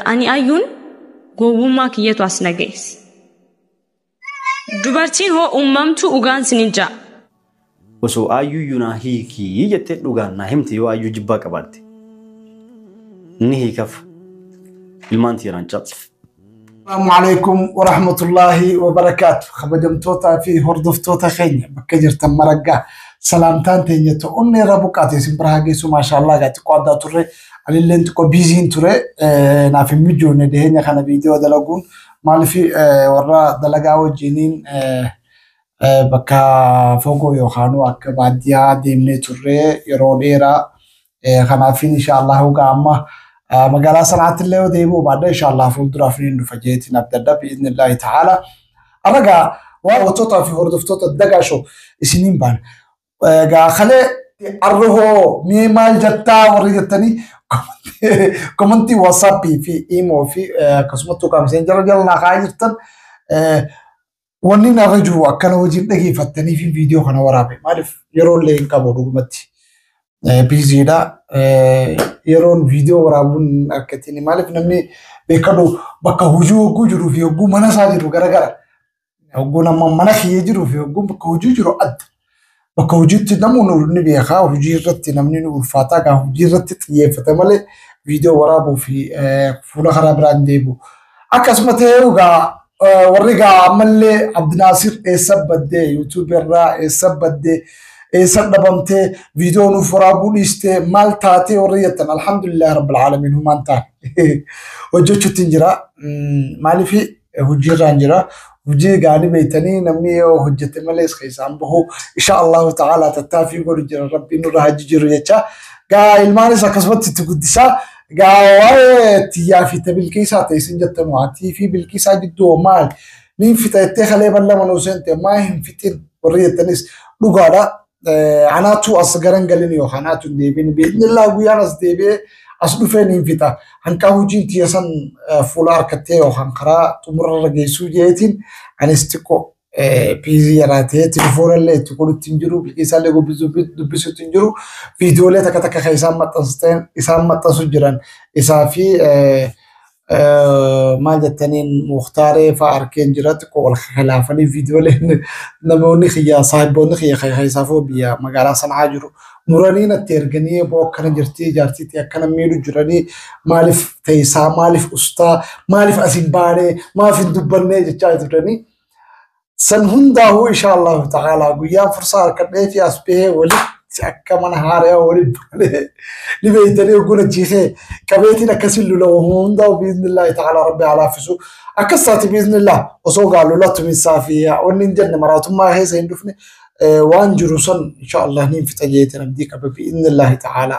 Ani ayyuun gowwummaa kiyyatu as na geesse. Dubartiin hoo uumamtuu ugaan sinin ja'a. Osoo ayyuyyuu naa hiikii jettee dhugaan naa himte yoo ayyuu jibbaa qabaatte. Ni hiikaf. Ilmaan tiiraan caqf. Assalamu alaikum wa rahmatullahi wa barakaatu. Kabajamtootaa fi hordoftoota keenya bakka jirtan maraggaa salaamtaan teenya ta'u onnee irra buqqaate isin bira haa geessu maashaallah gaa xiqqoo addaa turre anilleen xiqqoo biiziin ture eh, naaf hin mijoone dhiheenya kana viidiyoo dalaguun maaliif eh, warra dalagaa wajjiniin eh, eh, bakka fagoo yookaanuu akka baadiyyaa deemnee turre yeroo dheeraa Kanaaf inshaallah hogaa amma magaalaa sanaatti illee yoo deebi'u baadha inshaallah fuulduraaf ni dhufa jeetiin abdadha bi'iznillaahi ta'aala. Arragaa daawwattootaa fi hordoftoota dagaa shoo isiniin baana. Egaa kalee arra hoo mee maal jettaa warri jettanii komantii waatsaappii fi iimoo fi akkasumattuu qaamseen jala jala naa kaa'aa jirtan Wanni narra jiru akkana hojiin dhageeffattanii fi viidiyoo kana waraabe maaliif yeroo illee hin qabu dhugumatti biiziidha. Yeroon viidiyoo waraabuun akka ittiin maaliif namni beekadhu bakka hojii hogguu jiruu fi hogguu mana isaa jiru garagara. Hogguun amma mana kiyya jiruu fi hogguun bakka hojii jiru adda. Bakka hojiitti namuu nu ni beekaa hojii irratti namni nu ulfaataa gaa hojii irratti xiyyeeffate malee viidiyoo waraabuu fi eh, fuula karaa biraan deebi'u. Akkasuma ta'ee gaa eh, warri gaa ammallee Abdinaasir eessa baddee yuutuubii irraa eessa baddee eessa dhabamtee viidiyoo nuuf waraabuu dhiistee maal taatee warri jettan alhamdulillah rabbil aalamiin humaan taane hojjechuutti hin jira. Mm, Maaliif hojjiirraan jira. Hojii gaanii beektanii namni yoo hojjete malees keessaan bahu insha Allahu ta'ala tattaaffii godhu jira rabbiin nurra haa jijjiiru jecha. Gaa ilmaanis akkasumatti itti guddisaa. Gaa waa'ee tiyyaa fi bilqiisaa ta'e isin jettan waatii fi bilqiisaa gidduu maal niin fita jettee kalee ballama nuu seente maa hin fixin warri jettanis dhugaadha. Anaatu as garan galin yookaan anaatu hin deebiin biiznillaa guyyaan as deebi'ee as dhufeen hin fixa. Hanqaa hojiin tiyya san fuula harkattee yookaan karaa xumurarra geessuu jeetiin anis xiqqoo piizii yaraatee telefoonallee itti godhutti hin jiru biqilsaallee dubbisutti hin jiru viidiyoolee takka takka kan isaan maxxansteen isaan maxxansu jiran isaa fi maal jettaniin muhtaaree fa'aa arkeen jira xiqqoo wal khilaafanii viidiyooleen namoonni kiyya saahiboonni kiyya keessaafuu biyya magaalaa sanaa jiru muranii natti erganii eeboo akkana jirti jaartiitti akkana miidhu jiranii maaliif teessaa maaliif ustaa maaliif as hin baanee maaf hin dubbannee jechaa turanii San hundaahuu insha Allahu ta'ala guyyaan fursaa harkadhee fi as bahee walitti akka mana haarayaa walitti balee ni beeytanii ogguun achiisee qabeetiin akkasiin lula uumuu hundaa'u biiznillaahi ta'ala rabbi haa laaffisu akkas taati biiznillah osoo gaa lula tuminsaa fi wanni hin jenne maraatummaa keessa hin dhufne eh, waan jiru san insha Allah niin fixa jeetiin abdii qaba biiznillaahi ta'ala.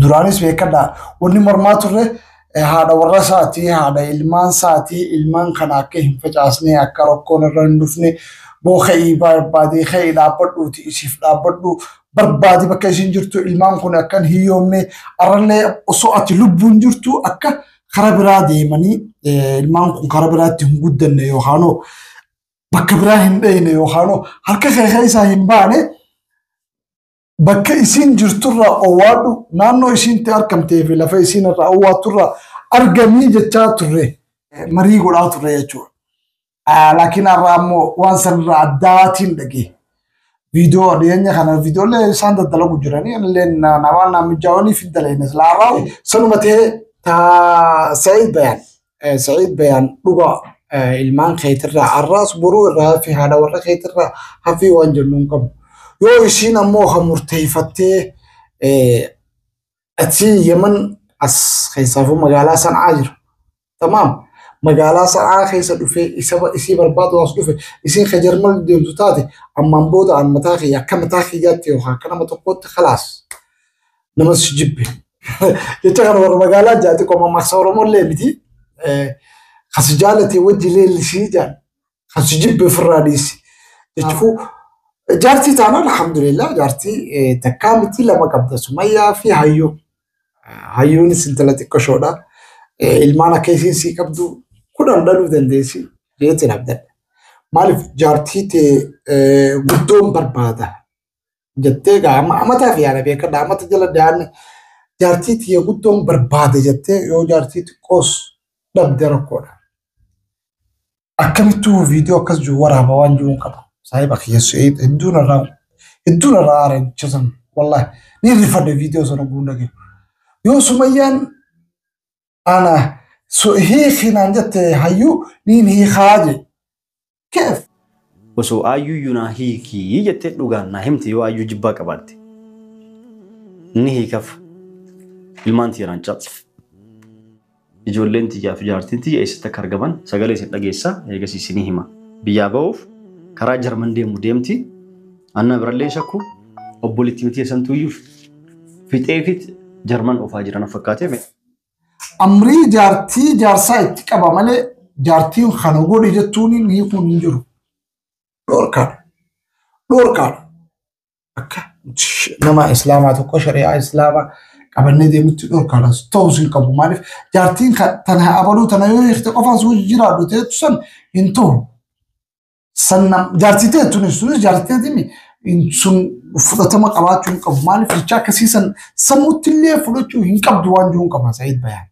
Duraanis beekadha. Wanni mormaa turre haadha warra isaatii, haadha ilmaan isaatii, ilmaan kana akka hin facaasne, akka rakkoon irra hin dhufne, boo ka'ii barbaadee ka'ii dhaabbadhuuti isiif dhaabbadhu barbaadi bakka isin jirtu ilmaan kun akka hin hiyyoomne arrallee osoo ati lubbuun jirtu akka kara biraa deemanii ilmaan kun kara biraatti hin guddanne yookaanoo bakka biraa hin dhayne yookaanoo harka kee keessaa hin baane bakka isiin jirturraa owwaadhu naannoo isiintti argamtee fi lafa isiin irraa owwaatturraa argamii jechaa turre marii godhaa turre jechuudha. Laakiin har'a ammoo waan sanirraa addaatiin dhagee viidiyoo dhiyeenya kana viidiyoolee isaan daddalagu jiranii illee waan naammijaawanii fi daleenya silaa har'aa sanuma ta'ee taa sa'ee bayan. Eh, Sa'iid Bayaan dhugaa eh, ilmaan keetirraa har'aas boruu irraa hafi haadha warra keetirraa hafi waan jennu hin qabu. Yoo isiin ammoo kan murteeffattee eh, achiin Yemen as keessaafuu magaalaa sanaa jiru. Tamaam magaalaa sanaa keessa dhufee isa isii barbaadu as dhufe isiin ka jarmal deemtu taate ammaan booda an mataa kiyya akka mataa kiyyaatti yookaan akka nama tokkootti kalaas. namas si jibbe. Jecha kana warra magaalaa jaati qoma marsa Oromoo illee miti. Kan si jaalate wajji leellisii jaan. Kan si jibbe ofirraa dhiisi. Jechuun jaartii taanaan alhamdulillah jaartii takkaa miti lama qabda sumayyaa fi hayyuu. Hayyuunis intala xiqqoo shoodha. Ilmaan akka isiin sii qabdu kudhan dhaluu dandeessi jeetiin abdadha. Maaliif jaartii tee guddoon barbaada. jettee egaa amma amataa fi yaada beekadha amata jala daa'imni jaartii tiyya guddoon barbaade jettee yoo jaartii xiqqoos dhabde rakkoodha. Akkamittuu viidiyoo akkas jiru waraaba waan jiru hin qabu. Saahiba kiyya su'eed hedduun irraa hedduun irraa aara jecha sana wallahi ni rifadhe viidiyoo sana guun dhagee. Yoo sumayyaan ana hiikinaan jette hayyuu niin hiikaa jee. Keef! Osoo aayyuyyuu naa hiikii jettee dhugaan naa himte yoo aayyuu jibbaa qabaatte. Ni hiikaf. Ilmaan tiyya naan caqsif. Ijoolleen tiyyaa fi jaartiin tiyya eessatti akka argaman sagalee isin dhageessa eegas isinii hima. Biyyaa ba'uuf karaa Jarman deemu deemti. Anna birallee hin shakku. Obboleettiin tiyya santuuyyuu fixeefit Jarman oofaa jiran fakkaatee. Amrii jaartii jaarsaa itti qaba malee jaartiin kana godhi jettuun hin hiikuun hin jiru. Dhorkaadha. Dhorkaadha. Akka nama islaamaa tokko shari'aa islaamaa qabannee deemutti dhorkaadha. Ta'us hin qabu. Maaliif jaartiin tana abaluu tana yoo hiikte qofaan si wajji jiraadhu ta'etu san hin ta'u. Sanna jaartii ta'e tunis tunis jaartii ta'etiin sun fudhatama qabaachuu hin qabu. Maaliif jecha akkasii san sammuutti illee fudhachuu hin qabdu waan jiru hin qabna Sa'iid Bayaan.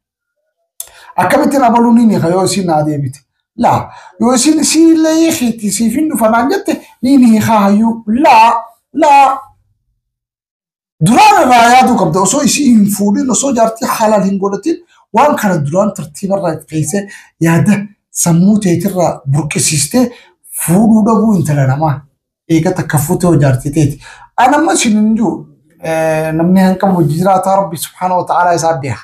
Akkamittiin abaluu ni hiika yoo isiin naa deebite. Laa yoo isiin isiin illee hiikti siif hin dhufa naan jette ni hiikaa hayyuu laa laa Duraan irraa yaaduu qabda osoo isii hin fuudhin osoo jaartii halaal hin godhatin waan kana duraan tartiiba irraa itti keessee yaada sammuu teetirraa burqisiistee fuudhuu dhabuu intala namaa eega takka fuutee hoo jaartii teeti. An amma isin hin jiru namni hanqabu hojii jiraataa rabbi subhaana wa ta'aalaa isaa beeka.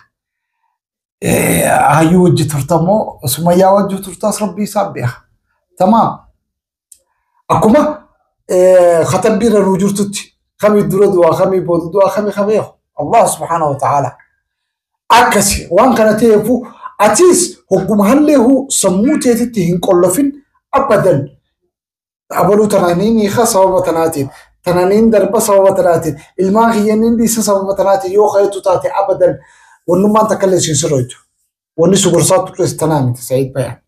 Hayyuu hojii turta moo sumayyaa wajjuu turtaas rabbi isaa beeka. Tamaam. Akkuma katabbii irra nuu jirtutti kami dura du'a kami booda du'a kami kami Allah subhaanahu wa ta'ala akkasi waan kana ta'eefu atis hogguma halleehu sammuu teetitti hin qollofin abadan abaluu tanaan hin hiika sababa tanaatiin tanaan hin darba sababa tanaatiin ilmaan kiyyan hin dhiisa sababa tanaatiin yoo kayetu taate abadan wannummaan takka illee siin sirreetu. Wanni si gorsaa turres tanaa miti Sa'iid Bayaan.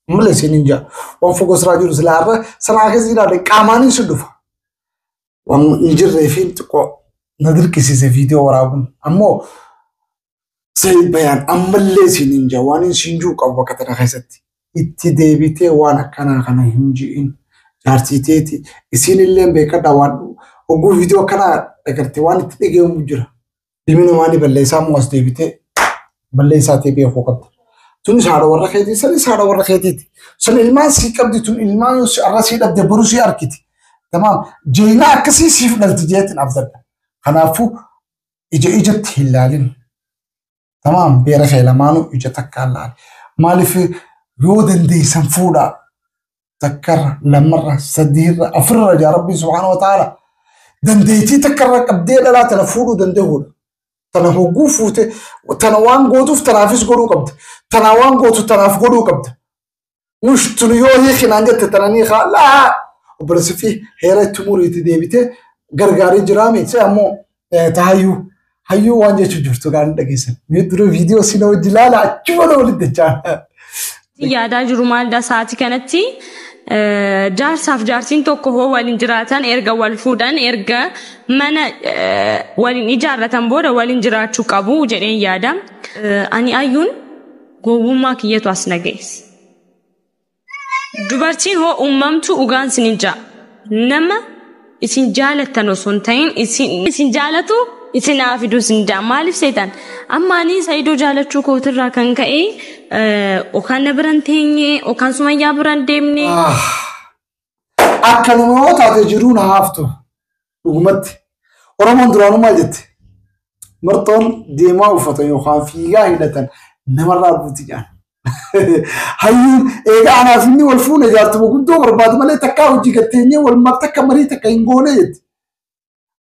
Malee siin hin jaa. Waan fagoo siraa jiru silaa irra sanaa keessa jiraate qaamaanin si dhufa. Waan hin jirree fi xiqqoo na dirqisiise viidiyoo waraabuun. Ammoo Sa'iid Bayaan ammallee siin hin jaa. Waan hin siin jiru qabu bakka tana keessatti. Itti deebitee waan akkanaa kana hin ji'in. Jaartii teeti isiin illee beekadha waan hogguu viidiyoo akkanaa dhagarte waan itti dhagahamu jira. Ilmi namaa ni balleessaa immoo as deebitee balleessaa ta'e beekuu qabda. Tunis haadha warra keetii sanis haadha warra keetiiti. Sun ilmaan sii qabdi tun ilmaan yoo si- har'a sii dhabde boruu sii argiti. Tamaam jeeynaa akkasii siif dhalti jeetin abdadha. Kanaafuu ija ijatti hin laalin. Tamaam beera kee lamaanuu ija takkaan laali. Maaliif yoo dandeessan fuudhaa. takkarra lamarra sadiirra afurra jaa rabbiin subhaanahu wa ta'ala dandeettii takkarra qabdee dhalaa tana fuudhuu danda'uudha. Tana hogguu fuute tana waan gootuuf tanaafis godhuu qabda. Tanaa waan gootu tanaaf godhuu qabda. Mush tun yoo hiikinaan jette tana ni haa laa obboleessi fi heera itti muriitti deebitee gargaarii jiraa miti ammoo Tahayyuu hayyuu waan jechuu jirtu kaan dhageessan. Mee dura viidiyoo sina hojii ilaala achuma na walitti jechaa. yaadaa jiru maalda sa'aatii kanatti eh, jaarsaaf jaartiin tokko hoo waliin jiraatan erga wal fuudhan erga mana eh, waliin ijaarratan booda waliin jiraachuu qabu jedheen yaada. Eh, Ani ayyuun gowwummaa kiyyatu as na ga'es. Dubartiin hoo uumamtuu dhugaan isin hin ja'a. Nama isin jaalattan osoo hin ta'in isin isin jaalatu isin haa fiduu isin ja'a. Maaliif seetan? Amma ani Saidoo jaalachuu kootirraa kan ka'e okaan na biran teenye okaan sumayyaa biran deemne. Akkanuma yoo taate jiruun haaftu. Dhugumatti, Oromoon duraanuu maal jette? Marxoon deemaa uffatan yookaan fiigaa hidhatan namarraa buuti jedhan. Hayyuun eegaa anaaf inni wal fuune jaartuma guddoo barbaadu malee takkaa hojii gatteenyee wal marta akka marii takka hin goone jette.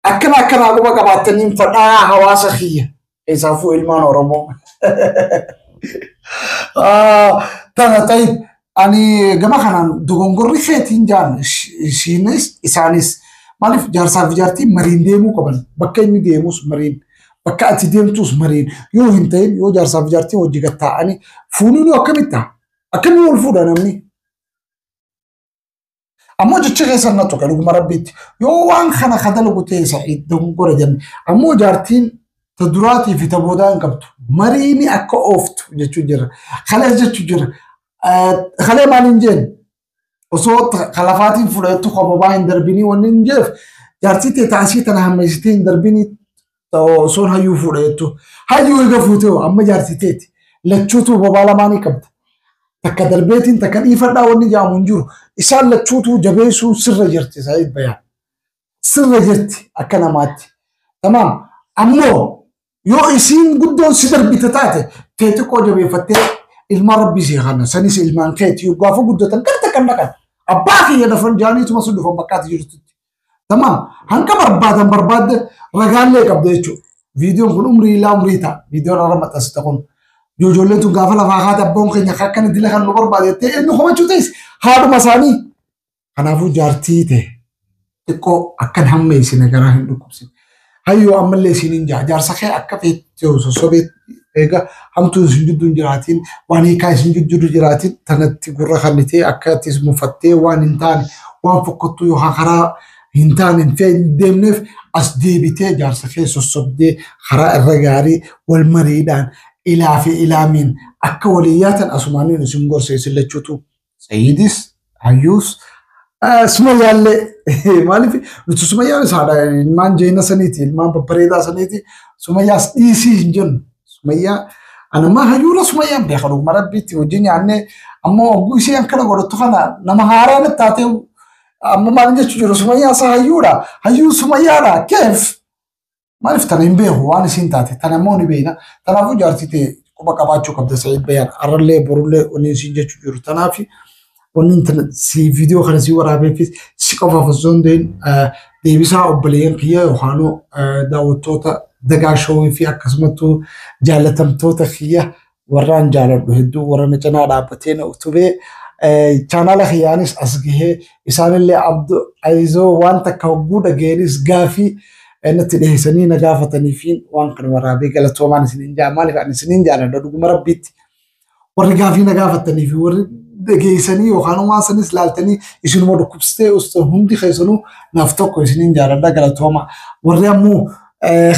Akkana akkanaa quba qabaattaniin fadhaa hawaasa kiyya. Keessaafuu ilmaan Oromoo. Tana ta'e ani gama kanaan dogongorri keetiin jaan ishiinis isaanis maaliif jaarsaa fi jaartiin mariin deemuu qaban bakka inni deemus mariin bakka ati deemtus mariin yoo hin ta'in yoo jaarsaa fi jaartiin hojii gad taa'anii fuunuun akkamitti ta'a? Akkamii wal fuudha namni? Ammoo jecha keessa na tuqe dhuguma rabbiitti. Yoo waan kana ka dalagu ta'e sa'iid dogongora jenne. Ammoo jaartiin ta duraatii fi ta boodaa hin qabdu. Mariini akka ooftu jechuu jirra. Kalees jechuu jirra. Eh, Kalee maal hin jeen? Osoo ta- ka lafaatiin fudhattu ka bobaa hin darbinii wanni hin jeef jaartii tee taasii tana hammeessitee hin darbinii Osoon hayyuu fuudha jettu. Hayyuu eega fuutee hoo amma jaarsi teeti. Lachuutuu bobaa lamaanii qabda. Takka darbeetiin takka dhiifadhaa wanni jaamu hin jiru. Isaan lachuutuu jabeessuun sirra jirti Saayid Bayaan. Sirra jirti akka namaatti. Tamaam. Ammoo yoo isiin guddoon si darbite taate tee xiqqoo jabeeffattee ilmaan rabbii si kana sanis ilmaan keeti yoo gaafa guddatan kan takkan dhaqan. Abbaa kiyya dafan jaaniituma sun dhufan bakkaatti jirtutti. Tamam hanga barbaadan barbaadde ragaallee qabda jechuudha. Viidiyoon kun umrii illaa umrii ta'a. Viidiyoon irra maxxansita kun. Ijoolleen tun gaafa lafaa kaate abboon keenya akka akkana dila kan nu barbaade jettee eenyu komachuu ta'es haadhuma isaanii. Kanaafuu jaartii ta'e xiqqoo akkan hammeessine garaa hin dhukkubsine. Hayyoo ammallee isiinin jaa jaarsa kee akka feettee sossobee eega hamtuun isin gidduu hin jiraatiin waan hiikaa isin gidduu jiraatiin tanatti gurra kannitee akka itti isin muffattee waan hin taane waan fokkottuu yookaan karaa hin taane hin fee- hin deemneef as deebitee jaarsa kee sossobdee karaa irra gaarii wal mariidhaan ilaa fi ilaamiin akka walii yaatan asumaaniin isin gorsa isin lachuutu Sayiidis hayyuus sumayyaallee maaliif nuti sumayyaa isaadha ilmaan jeena saniiti ilmaan babbareedaa saniiti sumayyaas dhiisii hin jennu sumayyaa anammaa hayyuura sumayyaan beeka dhuguma rabbiitti hojii nyaannee amma ogguu isii akkana godhattu kana nama haaraa natti taatee amma maal jechuu jiru sumayyaa isaa hayyuudha hayyuu sumayyaadha keef Maaliif tana hin beeku waan isiin taate tana immoo ni beekna. Kanaafuu jaartii ta'e quba qabaachuu qabda Sa'iid Bayyaan. Arrallee borullee wanni isiin jechuu jiru. Kanaaf wanni tana si viidiyoo kana si waraabeefis si qofaaf osoo hin ta'in deebisaa obboleeyyan kiyya yookaanuu daawwattoota dagaa showii fi akkasumattuu jaallatamtoota kiyya warraan jaaladhu hedduu warra na cinaa dhaabbatee na utubee chaanaala kiyyaanis as gahee isaanillee abdu ayizoo waan takka hogguu dhageenis gaafii natti dhiheessanii na gaafataniifiin waan kana waraabee galatoomaan isiniin jaa maaliif ani isiniin jaaladha dhuguma rabbiitti warri gaafii na gaafatanii fi warri dhageessanii yookaan waan sanis laaltanii isinuma dhukkubsitee osoo hundi keessanuu naaf tokko isiniin jaaladha galatooma warri ammoo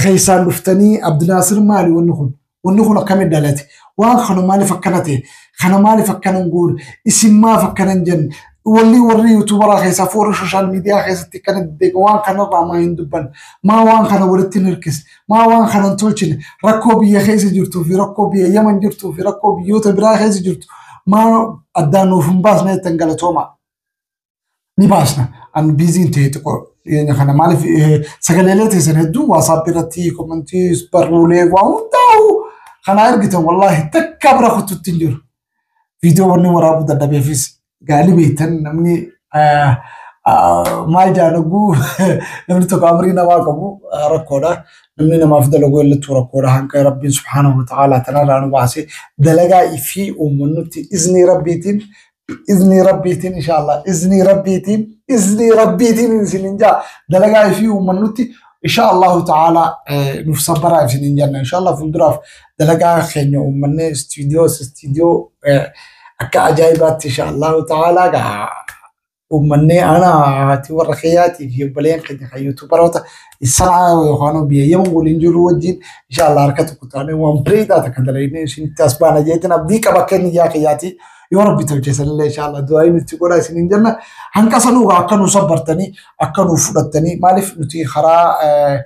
keessaan dhuftanii abdinaasir maali wanni kun Wanni kun akkamitti dhalate? Waan kana maaliif akkana ta'e? Kana maaliif akkana hin goone? Isin maaf akkana hin jenne? Walli warri yuutuubaraa keessaa fi warri sooshaal miidiyaa keessatti akkana deddeega waan kanarraa maa hin dubbanne? Maa waan kana walitti hin hirkisne? Maa waan kana hin tolchine? Rakkoo biyya keessa jirtuu fi rakkoo biyya Yaman jirtuu fi rakkoo biyyoota biraa keessa jirtu maa addaan nuuf hin baasne jettan galatoomaa. ni baasna. An biiziin ta'e xiqqoo dhiyeenya kana maaliif eh, sagaleelee teessan hedduu waasaap irratti komantii barruulee waa hundaa'u kanaa ergitan wallaahi takka bira kututti hin jiru. Viidiyoo wanni waraabuu dadhabeefis gaalii beektan namni eh, ah, maal jaalaguu namni tokko amrii namaa qabu ah, rakkoodha. Namni namaaf dalaguu illattuu rakkoodha hanga rabbiin subhaanahu wa ta'aalaa tanarraa nu baasee dalagaa fi uummannutti iznii rabbiitiin iznii rabbiitiin inshaallah iznii rabbiitiin iznii rabbiitiin isinin jaa dalagaa ifii uummannutti inshaallahu ta'ala nuuf sabbaraa isinin janna inshaallah fuulduraaf dalagaa keenya uummannee istiidiyoo istiidiyoo akka ajaa'ibaatti inshaallahu ta'ala gaa uummannee ana haati warra keeyyaati fi obboleen keenya kan yuutuubaroota isaa yookaan biyyayyamu waliin jiru wajjin inshaallah harka tokko taanee waan bireedaa takka dalagnee isinitti as baana jeetiin abdii qaba keenya yaa keeyyaati. yoo rabbi tolche sanillee inshaallah du'aayi nutti godha isiniin jenna hanqa sanuu akka nu sabbartanii akka nu fudhattanii maaliif nuti karaa eh,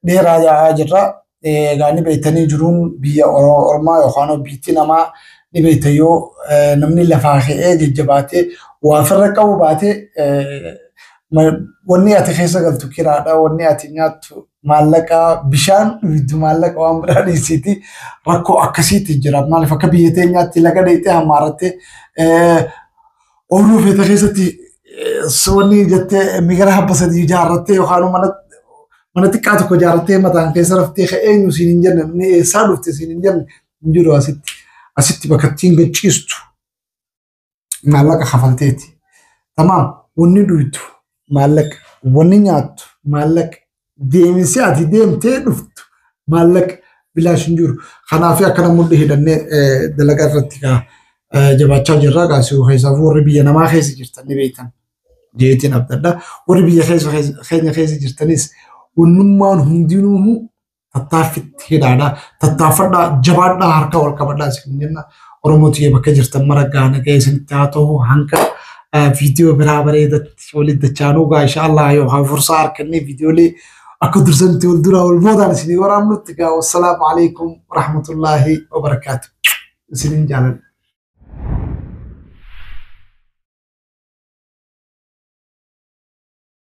dheeraa yaa'aa jirra Eh, egaa ni beektanii jiruun biyya Oro- ormaa yookaan biyyi namaa ni beekta yoo eh, namni lafaa ka'ee jajjabaatee waa ofirra qabu baatee eh, ma- wanni ati keessa galtu kiraadha wanni ati nyaattu maallaqa bishaan dhuydu maallaqa waan biraa dhiisiiti rakkoo akkasiitti jira. Maaliif akka biyya teenyaatti laga dheexee hammaarattee ooyiruu feeta keessatti wanni jettee migira habba sadii ijaarrattee yookaan mana mana xiqqaa tokko ijaarrattee mataan keessa raftee ka eenyu siin hin jenne inni eessaa dhufte siin hin jenne hin jiru asitti asitti bakka ittiin gachiistu maallaqa kafalteeti. Tamaam wanni duytu maallaqa, wanni nyaattu maallaqa, deeminsi ati deemtee dhuftu maallaqa bilaash hin jiru. Kanaaf akkana mudhi hidhannee eh, dalagaa irratti kaa eh, jabaachaa jirra. Kaasuu keessaaf warri biyya namaa keessa jirtan ni beektan. jeetiin abdadha. Warri biyya keessa keessa- keenya keessa jirtanis wannummaan hundinuu tattaaffitti hidhaadha. Tattaaffadhaa jabaadhaa harka wal qabadhaa isin jenna. Oromoo tiyya bakka jirtan mara gaana ga'ee isinitti haa ta'u hanga viidiyoo biraa bareedatti walitti dachaanuu gaa insha Allah yoo haa fursaa harkannee viidiyoolee akka dursanitti wal duraa wal boodaan isinii waraabnutti gaa wassalaamu alaikum warahmatullaahi wabarakaatu. Isiniin jaaladha.